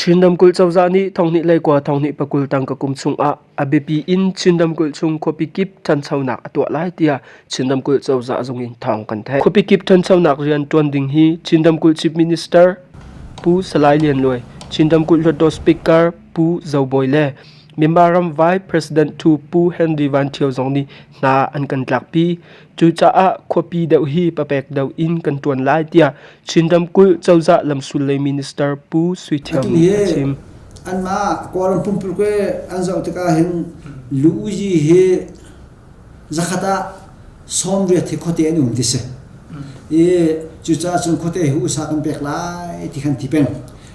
Chin ramkulh cozah nih thonghnih lei kua thonghnih pakul tang ka kum chungah a biapi in Chin ramkulh chung khuapi kip ṭhanchonak a tuah lai tiah Chin ramkulh cozah zung in thawng kan theih. Khuapi kip ṭhanchonak rian ṭuan ding hi Chin ramkulh Chief Minister Pu Salai Lian Luai, Chin ramkulh Hluttaw Speaker Pu Zo Bawi le Myanmar ramvai President thu Pu Henry Van Thio zong nih hna an kan tlakpi. Cucaah khuapi deuh hi papek deuh in kan tuan lai tiah Chin ramkulh cozah lamsul lei minister Pu Sui Thiam nih a chim. anmah Kawlram pumpulkwe an zoh tikah hin Lu Uyi hi Zakhat ah sawmriat hi khuate an um ti si. I cucaah cun khuate hi usa kan pek lai ti kan ti peng.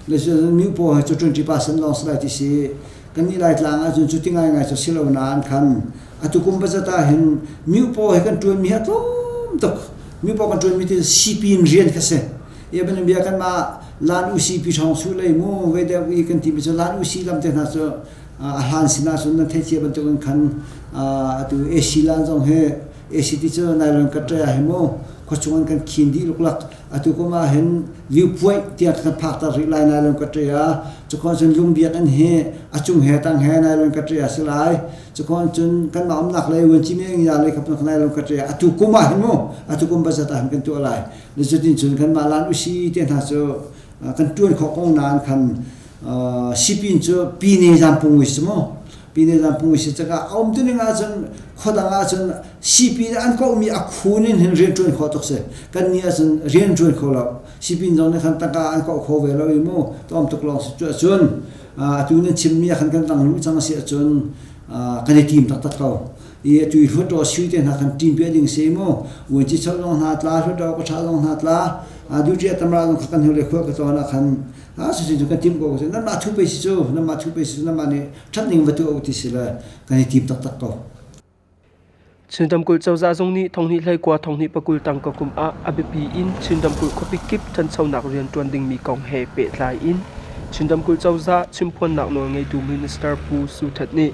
Le cun mi paw hi cu 20% lawng si lai ti si. Kan nih lai tlang ah cun cu ti ngai ngai cu si lo nain khan atukum budget ah hin mi paw hi kan tuan mi hi a tlawm tuk. Mi paw kan tuan mi ti sipi in rian kha si. Ia ban bia kan mah Lan UCP thawng su lei mu, veideu i kan ti mi cu Lan UC lam te hna cu a hlan sinah cun nan theicia bantukin khan atu AC lan zong hi AC ti cu nylon kan ṭai ah hi maw khua chungin kan khin dih luklak atu kum ah hin liu puaih tiang kan phakter rih lai nylon ka ṭai ah cukon cun lungbiak in hi a cung he tang he nylon ka ṭai ah si lai cukon cun kanmah umnak lei uanci meng ya lei kapnak nylon ka ṭai ah atu kum ah hin mu atu kum bazat ah hin kan tuah lai nizutin cun kanmah lan usi te hna cu kan ṭuan khawh kong nan khan sipin cu pine zan pungui si mu pine zan pungui si caka a um tuning ahcun khodang ahcun sipin an kohmi a khun in hin rian ṭuan kho tuk si kan ni ahcun rian ṭuan kho lo sipin zong nih khan tangka an koh kho ve lo i mu tom tuk lawng si cu ahcun atu nan chimmi khan kan tang lu cang si ahcun kan i tim taktak ko i atu i hluttaw sui te hna kan tim pe ding se mu wuanci chau zong hna tla hluttaw kawtha zong hna tla duty atamra zong kha kan hule khua ka tona khan Ah si cu ka timh ko ka si nanmah thu pei si cu nanmah thu pei si cu nanmah nih ṭhat ning va tuah u ti si le kan i tim taktak ko. Chinram kulh cozah zung nih thonghnih hleikua thonghnih pakul tang ka kum ah a biapi in Chinram kulh khuapi kip ṭhanchonak rian ṭuan dingmi kong he pehtlai in Chinram kulh cozah chimphuannak nawl ngeitu minister Pu Su Htet nih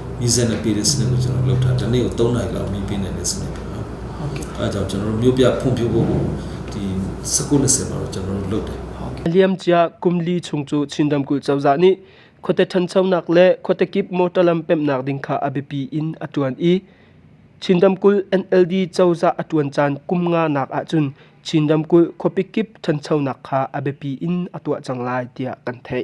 Izen api le sine lo general lo tha tane to na la mi pe ne sine pe ha a da general mi bia phung phi bo bo ti sakun se ba general lo de liam chia kumli chung chu chindam kul chawza ni khote than chonak le khote kip motor lam pem nak ding kha abipi in atuan i chindam kul NLD chawza atuan chan kumnga nak a chun chindam kul khopi kip than chonak kha abipi in atwa chang lai tia kan thei